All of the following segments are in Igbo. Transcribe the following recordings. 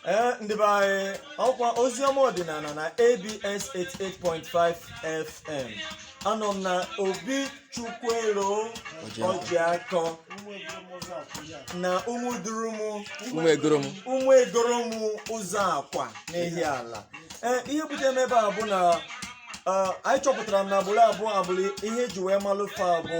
ee ndị be anyị ọkwa oziọma ọdịnala na abs 88.5 fm anọ m na obi chukwuero ọjịakọ na ụmụdurumu ụmụegoromu ụzọakwa n'ihiala ee ihe bute m ebe a bụ na ee, anyị chọpụtara m na agbụrụ a bụ agbụrụ ihe eji wee malụ fa bụ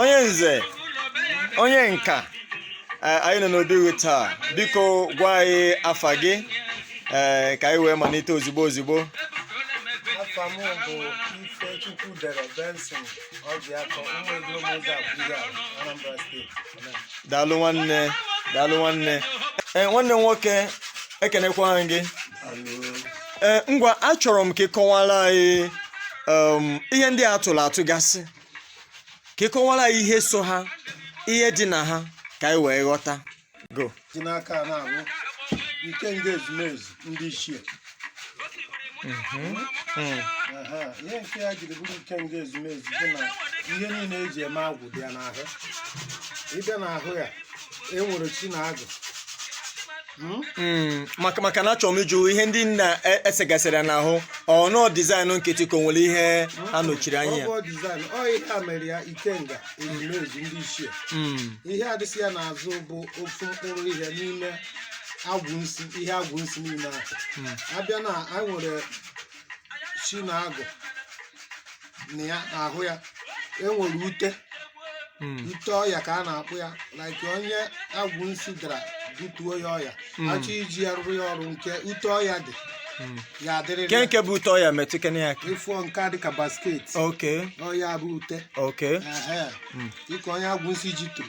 onye nze onye nka eh, anyị nọ n'obi gị taa biko gwa anyị afa gị eh, ka anyị wee malite ozigbo ozigbo afa m bụ Ifechukwudere Benson Ọjịakọ ụmụegolom Ụzọakwa Anambra steeti daalụ nwanne daalụ nwanne Eh, nwanne m nwoke ekenekwa gị Eh, ngwa achọrọ m ka ị kọwara anyị um, ihe ndị a tụrụ atụ gasị ka ị kọwara anyị ihe so ha ihe dị na ha ka anyị wee ghọtagodị nke a na-abụ ikenga ezumezu ndị ichie Aha, ihe nke ya jiri bụrụ ikenga ezumezu bụ na ihe niile eji eme agwụ dị ya n'ahụ ị bịa n'ahụ ya e nwere chi na agwụ Hmm, maka maka na achọrọ m ịjụ ihe ndị a e- esegasịrị ya n'ahụ ọ bụ design nkịtị ka o nwere ihe ọ nọchiri anya ya Ọ bụ design, ọ ihe a mere ya ikenga ezumezu ndị ichie Hmm, ihe a dịsị ya n'azụ bụ ofu mkpụrụ ihe n'ime agwụ nsi ihe agwụ nsi niile ahụ a bịa na anyị nwere chi na agwụ na ya n'ahụ ya e nwere ute Mm. ute ọya ka a na-akpọ ya like onye agwụ nsi dara butuo ya ọya Mm. a chọọ iji ya rụrụ ya ọrụ nke ute ọya dị Mm. ya adịrịrị Nke ya. nke bụ ute ọya metụkene ya. ị fụọ nke a dịka basket Okay. ọ ya bụ ute Okay. Ehe. Mm. dịka onye agwụ nsi ji turu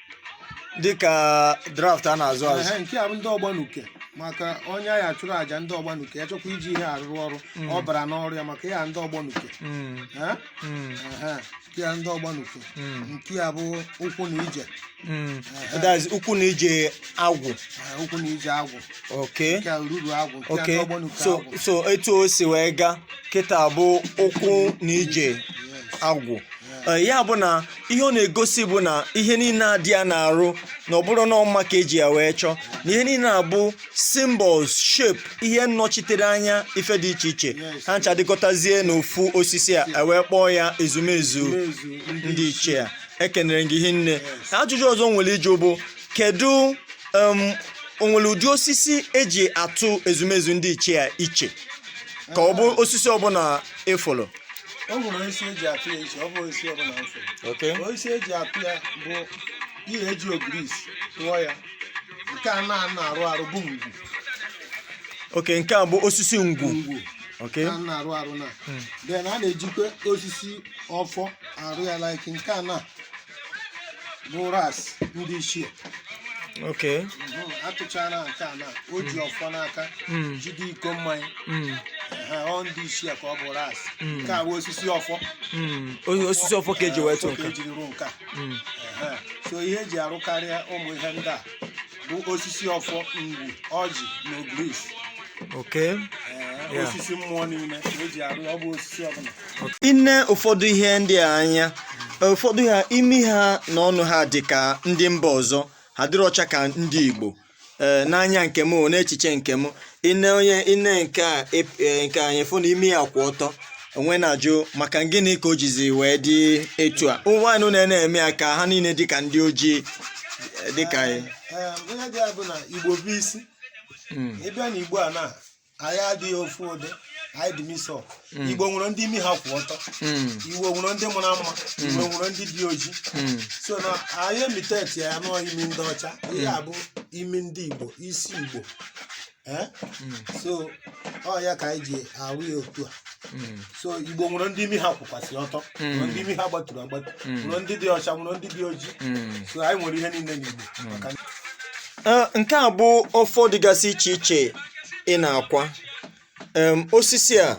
dịka draft a na-azụ azụ Ehe, nke a bụ ndị ọgbanuke maka onye a ya-achụrụ aja ndị ọgbanuke ya chọkwa iji ihe arụrụ ọrụ ọ bara n'ọrụ ya maka ya ndị ọgbanuke Mm, Eh? mm, Ehe, nke a ndị ọgbanuke mm, nke a bụ ụkwụ na ije mm. That is ụkwụ na ije agwụ Ehe, ụkwụ na ije agwụ okay nke a ruru agwụ nke a ndị okay ọgbanuke so agwụ so etu o si wee gaa kịta bụ ụkwụ na ije Yes, agwụ yes. Eh, ya bụ na ihe ọ na-egosi bụ na ihe niile a dị ya n'arụ na ọ bụrọ na ọ mma ka eji ya wee chọọ na ihe niile a bụ symbols shape ihe nnọchitere anya ife dị iche iche ha ncha dịkọtazie n'ofu osisi a e wee kpọọ ya ezumezu ndị ichie a ekenere m gị hinne ajụjụ ọzọ m nwere ịjụ bụ kedu em, o nwere ụdị osisi eji atụ ezumezu ndị ichie a iche ka ọ bụ osisi ọbụla ị fụrụ o nwere osisi eji apị ya iche ọ bụ osisi ọbụla mfe Okay. osisi eji apị ya bụ ihe eji ogirisi tụọ ya nke a na a na-arụ arụ bụ ngwu Okay, nke a bụ osisi ngwu. ngwu Okay. a na-arụ arụ na then a na-ejikwa osisi ọfọ arụ ya like nke a na bụ ras ndị ichie okay Mhm, atụchala nke a na o ji ọfọ n'aka Mm. jide iko mmanya Mm, Ha, ọ ndị ichie ka ọ bụ ras Mm. nke a bụ osisi ọfọ mm. O- osisi ọfọ ka eji wee tụ Ọfọ ka nka ejiri rụọ nke a Mm. Ehe. so ihe eji arụkarịa ụmụ ihe ndị a bụ osisi ọfọ ngwu ọjị na ogirisi okay Ee, Yeah. osisi mmụọ niile ka eji arụ ya, ọ bụ osisi ọbụla i nee ụfọdụ ihe ndị a anya ụfọdụ ha imi ha na ọnụ ha dị ka ndị mba ọzọ ha adịrọcha ka ndị igbo ee n'anya nke m o, n'echiche nke m i nee onye i nee nke a ep- ee, nke anyị fụ na imi ya kwụ ọtọ m wee na-ajụ maka gịnị ka o jizi wee dị etu a ụmụ nwaanyị na na-eme ya ka ha niile dị ka ndị ojii eh, dị ka anyị Ee, ihe dị ya bụ na igbo bụ isi Mm, ị bịa na igbo a na anyị adịghị ofu ụdị anyị dị mix igbo nwere ndị imi ha kwụ ọtọ mm, igbo nwere ndị mara mma igbo nwere ndị dị oji mm, so na anyị imitate ya nọọ imi ndị ọcha ihe a bụ imi ndị igbo isi igbo Eh? Mm. so ọ ya ka anyị ji arụ ya otu a Mm. so igbo nwere ndị imi ha kwụkwasị ọtọ Mm. nwere ndị imi ha gbaturu agbatu Mm. nwere ndị dị ọcha nwere ndị dị ojii Mm. so anyị nwere ihe niile n'igbo maka na Ee, nke a bụ ọfọ dịgasị iche iche ị na-akwa Em, osisi a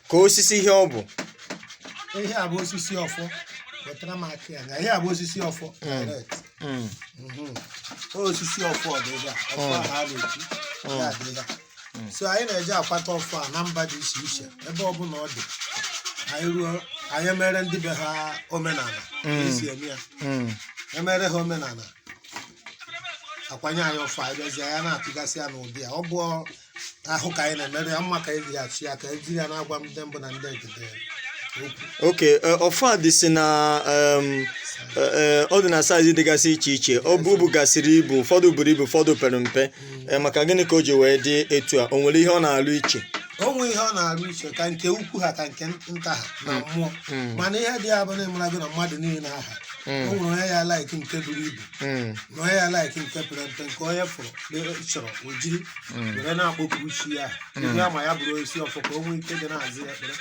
ka osisi ihe ọ bụ ihe a bụ osisi ọfọ wetara m aka ya na ihe a bụ osisi ọfọ direct. Mm. Mhm. osisi ọfọ ọdịda ọfọ Mm. ahụ a na-eji Mm. ya adada Mm. so anyị na-eje akwata ọfọ a na mba dị iche iche ebe ọbụla ọ dị anyị ruo anyị emere ndị be ha omenala Mm. esi eme ya Mm. emere ha omenala akwanye anyị ọfọ anyị bịazie ya na-atụgasị ya n'ụdị ya ọ bụ ahụ ka anyị na-emerụ ya mma ka e ji ya chi ya ka e jiri ya na-agwa ndị mbụ na ndị egede ya okwu okay e, ọfọ a dịsị na em, e, e, ọ dị na size dịgasị iche iche ọ bụ bugasịrị ibu ụfọdụ buru ibu ụfọdụ pere mpe E, maka gịnị ka o ji wee dị etu a o nwere ihe ọ na-alụ iche o nweghị ihe ọ na-arụ iche ka nke ukwu ha ka nke nta ha na mmụọ mana ihe dị ya bụ na ị marago na mmadụ niile aha o nwere onye ya like nke buru ibu Mm, na onye ya like nke pere mpe nke onye fụrụ na chọrọ o jiri mm, were na-akpọku chi ya Mm. ihe ama ya bụrụ osisi ọfọ ka o nwee ike dị na-aza ya ekpere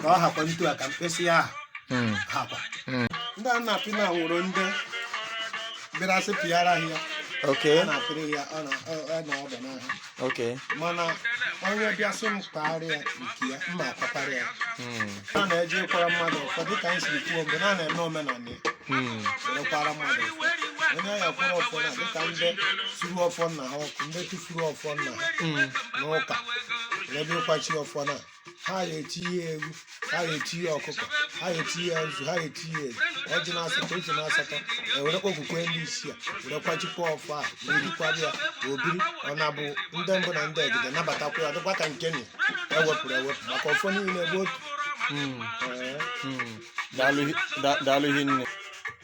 ka ọ hakwa otu a ka mkpịsị aka ha mm, hakwa Mm. ndị a na-apị na wụrụ ndị bịara sị pịara ha ya okay. a na-apịrị ya ọ na- ọ- ọ na ọba n'ahụ Okay. mana onye bịa sị m kwaara ya nke ya m ma akwara ya Mm. a na-eji ịkwara mmadụ ọfọ dịka anyị siri kwuo mgbe na na-eme omenala ya Mm. were kwara mmadụ ọfọ onye a ya akwara ọfọ na dịka ndị suru ọfọ nna ha ọkụ ndị tụfuru ọfọ nna ha Mm. n'ụka were bịa ịkwachi ọfọ na ha ya etinye eghu ha ya etinye ọkụkọ ha ya etinye azụ ha ya etinye ezi ọjị na asatọ ezi na asatọ ewere kpọkwukwe ndị ichie were kwachikwa ọfọ a were kwara ya obiri ọ na-abụ ndị mbụ na ndị egede nabatakwa ya dịkwa ka nke na ewepụrụ ewepụ maka ọfọ niile bụ otu Mm, Ee. mm. Daalụ hi- da- daalụ hinne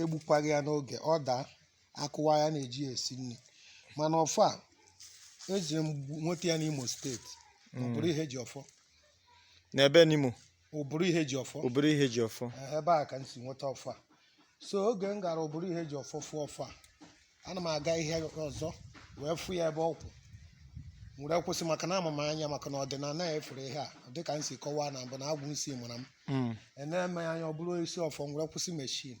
egbukwaghị ya n'oge ọ daa a kụwaa ya na-eji ya esi nri mana ọfọ a eji m gbu- nweta ya n'Imo steeti Uburu Ihejiọfọ n'ebe n'Imo Uburu Ihejiọfọ Uburu Ihejiọfọ Eh, ebe a ka m si nweta ọfọ a so oge m gara Uburu Ihejiọfọ fụ ọfọ a ana m aga ihe ọzọ wee fụ ya ebe ọ kwụ were kwụsị maka na ama m anya maka na ọdịnala ya efere ihe a dịka m si kọwaa na mbụ na agwụ nsi mara m Mm. enere m ya anya ọ bụrụ isi ọfọ m were kwụsị meshin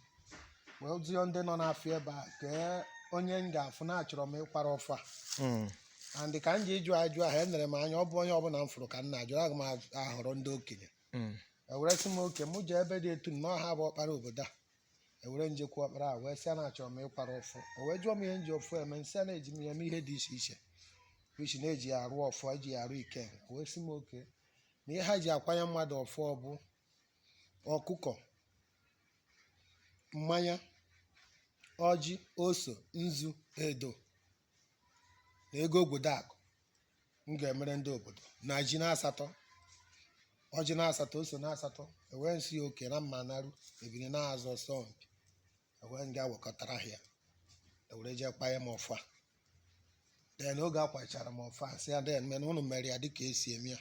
wee jụọ ndị nọ n'afọ ebe a kee onye m ga-afụ na achọrọ m ịkwara ọfọ a Mm. and ka m ji ịjụ ajụ ahụ enere m anya ọ bụ onye ọbụla m fụrụ ka m na-ajụ aga m ahọrọ ndị okenye Mm. ewere sị m okay mụ jee ebe dị etu na ọ ha bụ ọkpara obodo a ewere m jekwu ọkpara a wee sị ya na achọrọ m ịkwara ọfọ o wee jụọ m ihe m ji ọfọ eme m sị ya na eji m ya eme ihe dị iche iche which na-eji ya arụ ọfọ eji ya arụ ike o wee sị m okay na ihe ha ji akwanye mmadụ ọfọ ọ bụ ọkụkọ mmanya ọjị ose nzu edo na ego obodo akụ m ga-emere ndị obodo na ji na asatọ ọjị na asatọ ose na asatọ ewee m sị okay na mma naru ebini na azụ ọsọ mpi ewee m gaa wekọtara ha ya ewere jee kwanye m ọfọ a then oge akwachara m ọfọ a sị ya then mena ụnụ mere ya dịka esi eme ya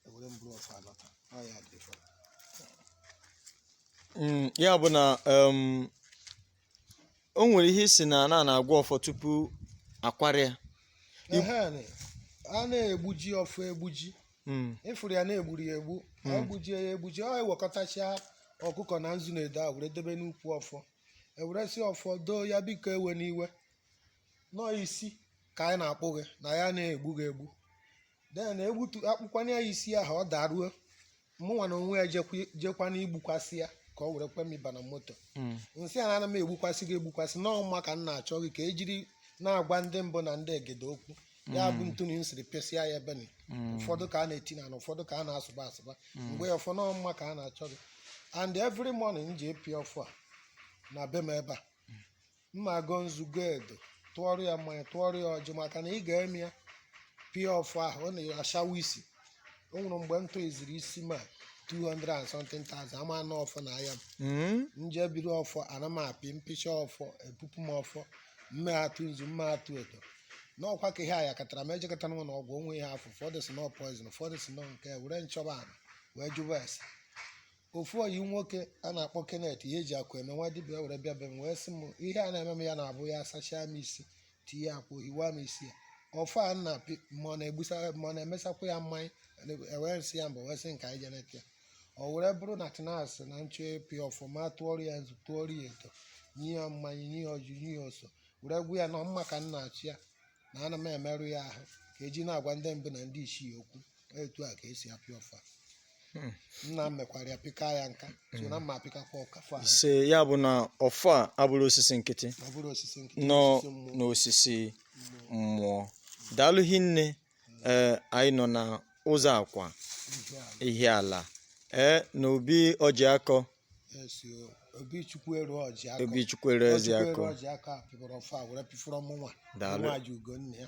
ewere m buru ọfọ a lọta ọ ya dị fọrọ Mm, ya bụ na um, o nwere ihe ị sị na a na na-agwa ọfọ tupu akwara ya Ehe, nị. a na-egbuji ọfọ egbuji Mm, ị fụrụ ya na e gburu ya egbu e gbujie ya egbuji e wekọtacha ọkụkọ na nzu na edo a were debe n'ukwu ọfọ e were sị ọfọ doo ya biko ewena iwe na ọ isi ka anyị na-akpụ gị na anyị ana egbu gị egbu then egbutu akpụkwanye ya isi ahụ ọ daruo mụnwa na onwe ya jekwa jekwa m gbukwasị ya ka ọ were kwe m ịba na moto Mm. m sị ya na m egbukwasị gị egbukwasị na ọ mma ka m na-achọ gị ka e jiri na-agwa ndị mbụ na ndị egede okwu ya bụ etu nị m siri pịasịa ya ebe nị Mm. ụfọdụ ka a na-eti ọna ụfọdụ ka a na-asụba asụba m gwa ọfọ na ọ mma ka a na-achọ gị and every morning m ji pịa ọfọ a na be m ebe a m ma agọ nzu gọ edo tụọrọ ya mmanya tụọrọ ya ọjị maka na ị ga-eme ya pịa ọfọ ahụ ọ na-achawa isi o nwere mgbe m tụziri isi ma 200 and something thousand ama anụ ọfọ na aya m Mm. m je biri ọfọ ana m apị m pịcha ọfọ epupu m ọfọ mme atụ nzu mme atụ edo n'ọkwa ka ihe a ya katara m ejekọtara m na ọgwụ onwe ihe afọ ụfọdụ sị na ọ poison ụfọdụ sị na ọ nke were m chọba ana wee jụba ese ofu ọyị nwoke a na-akpọ Kenneth ihe eji akụ eme nwa dibịa were bịa be m wee sị m ihe a na-eme m ya na-abụ ya sachaa m isi tinye akwa ohiwa m isi ya ọfọ a m na-apị ma ọ na-egbusa ma ọ na-emesakwa ya mmanya e wee m sị ya mba wee sị ka anyị je neta ya ọ were bụrụ na tinas na m chọọ ịpị ọfọ m a tụọrọ ya nzu tụọrọ ya edo nye ya mmanya nye ya ọjị nye ya ose were gwa ya na ọ mma ka m na-achọ ya na ana m emerụ ya ahụ ka e ji na-agwa ndị mbụ na ndị isii okwu etu a ka e si apị ọfọ Hmm. nna m mekwara ya pịka ya nka so na mma apịkakwa ọkafọ ahụ ise ya bụ na ọfọ abụrọ osisi nkịtị ọ bụrọ osisi nkịtị na ọ osisi mmụọ na ọ osisi mmụọ daalụ hinne ee anyị nọ na Ụzọakwa Ihiala. Ihiala ee na obi Ojiakọ Esi o, obi Chukwueru Ojiakọ. Obi Chukwueru Ojiakọ. Obi Chukwueru Ojiakọ pịburu ọfọ a were pịfọrọ mụnwa. Daalụ. Nwa ji ugo nne ya.